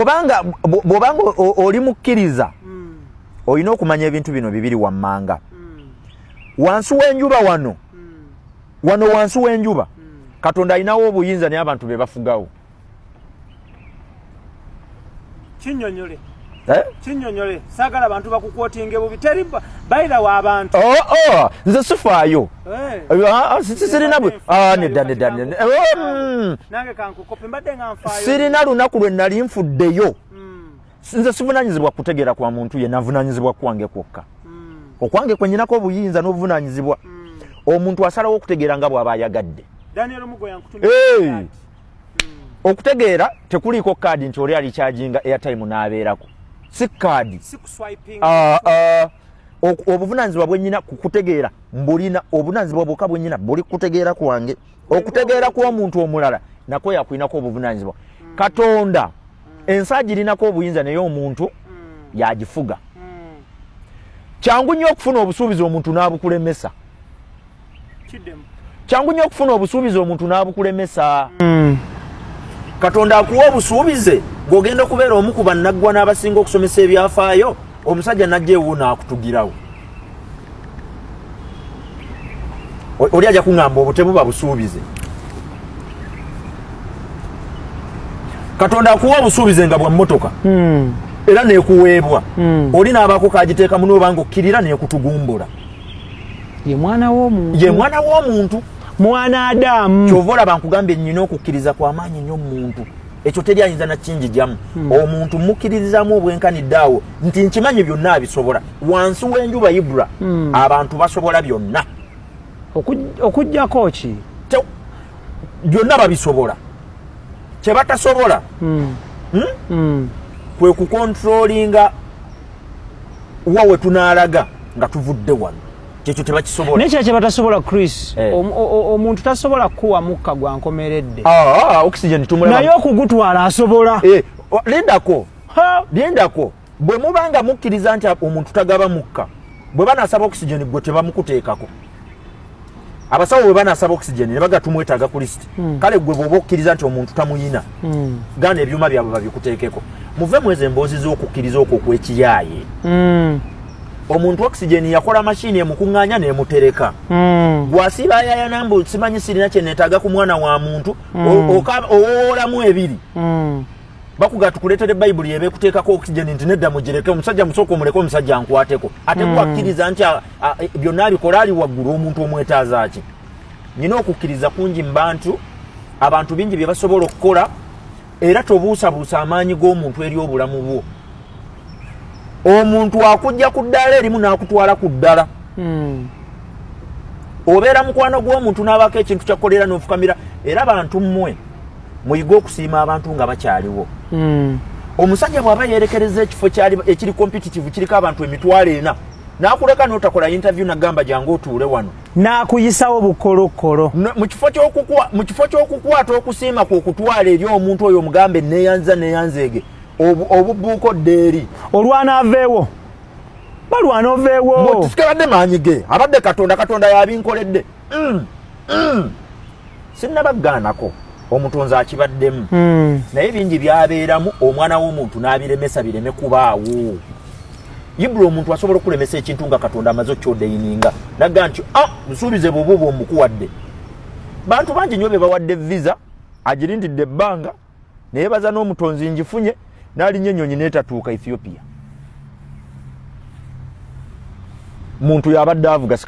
obanga bwobanga oli mukkiriza mm. olina okumanya ebintu bino bibiri wammanga mm. wansi w'enjuba wano mm. wano wansi w'enjuba mm. katonda alinawo obuyinza naye abantu be bafugawo kinyonyole Eh? kinyonyole sagala abantu bakukwotinge bubi teri bayira wa bantu oh, oh. nze sifaayo eh. ah, ah, sirina bwe ah, nedda nedda oh, mm. sirina lunaku lwe nali nfuddeyo hmm. nze sivunanyizibwa kutegeera kwa muntu ye navunanyizibwa kwange kwokka hmm. okwange kwe nyinako obuyinza n'obuvunanyizibwa hmm. omuntu asalawo okutegeera nga bw'aba ayagadde okutegeera tekuliiko kaadi nti oli alikyajinga airtime n'abeerako si kaadi ah, ah. obuvunanyizibwa bwenyina kukutegeera mbulina obunanyizibwa bwoka bwenyina buli kutegeera kwange okutegeera kw'omuntu omulala nakwo yakulinako obuvunanyizibwa mm. katonda mm. ensi agirinako obuyinza naye omuntu mm. yagifuga kyangu nnyo okufuna obusuubizi omuntu n'abukulemesa kyangu nnyo okufuna obusuubizi omuntu n'abukulemesa katonda akuwa obusuubize gweogenda okubeera omu ku bannaggwa n'abasinga okusomesa ebyafaayo omusajja najja ewo n'akutugirawo oli aja kuŋŋamba obutemu babusuubize katonda akuwa obusuubize nga bwa mmotoka hmm. era nekuweebwa hmm. oli n'abaako kagiteekamu nooba nga okkirira nekutugumbula ye mwana w'omuntu ye mwana w'omuntu mwana adamu kyova olaba nkugambye nnyina okukkiriza kwamaanyi nnyo mu muntu ekyo teri ayinza nakinjijamu hmm. omuntu mukirizamu obwenkanidde awo nti nkimanyi byonna abisobola wansi w'enjuba ibra hmm. abantu basobola byonna okujjako ki byonna babisobola kyebatasobola hmm. hmm? kwe kukontrolinga wa wetunaalaga nga tuvudde wano kyekyo tebakisobola naye kyekyo batasobola chris eh. omuntu tasobola kukuwa mukka gwa nkomeredde ah, ah, oxygen tumula naye okugutwala asobola eh, lindako lindako bwe muba nga mukkiriza nti omuntu tagaba mukka bwe banasaba oxygen gwe tebamukuteekako abasawo bwe banasaba oxygen ne baga tumwetaaga ku lisiti hmm. kale gwe bwoba okkiriza nti omuntu tamuyina hmm. gana ebyuma byabwe babikuteekeko muve mwezi emboozi z'okukkiriza okwo okwekiyaaye hmm. omuntu oxygen yakola mashini emukunganya nemutereka mm. gwasiba ayaya nambu simanyi sirina kyenetaga ku mwana wa muntu mm. owoolamu ebiri mm. bakuga tukuletere bayibuli ebe kuteekako oxygen nti nedda mugireke omusajja musooka omuleke omusajja ankwateko ate mm. gwakkiriza nti byonna abikola ali waggulu omuntu omwetaaza ki nyina okukkiriza kungi mu bantu abantu bingi bye basobola okukola era tobuusabuusa amaanyi g'omuntu eri obulamu bwo omuntu akujja ku ddaala erimu n'akutwala ku ddala hmm. obeera mukwano gw'omuntu n'abaako ekintu kyakukolera n'ofukamira era bantu mmwe muyige okusiima abantu nga bakyaliwo hmm. omusajja bw'aba yeerekereza ekifo ekiri competitive kiriko abantu emitwalo ena n'akuleka n'otakola yintavyu nagamba gyange otuule wano n'akuyisawo bukolokkolo mu kifo ky'okukwata okusiima kwe okutwala eri omuntu oyo omugambe neeyanziza neeyanzeege obubuuka odda eri olwana aveewo balwana oveewo sikabadde maanyi ge abadde katonda katonda yabinkoledde mm, mm. sinnabaggaanako omutonzi akibaddemu hmm. naye bingi byabeeramu omwana w'omuntu n'abiremesa bireme kubaawo ibula omuntu asobola okulemesa ekintu nga katonda amaze okyodeyininga nagga nti a ah, nsuubize bwobuuba omukuwadde bantu bangi nyo be bawadde visa agirindidde ebbanga naye baza n'omutonzi ngifunye n'alinnya ennyonyi n'etatuuka ethiopia muntu yabadde avuga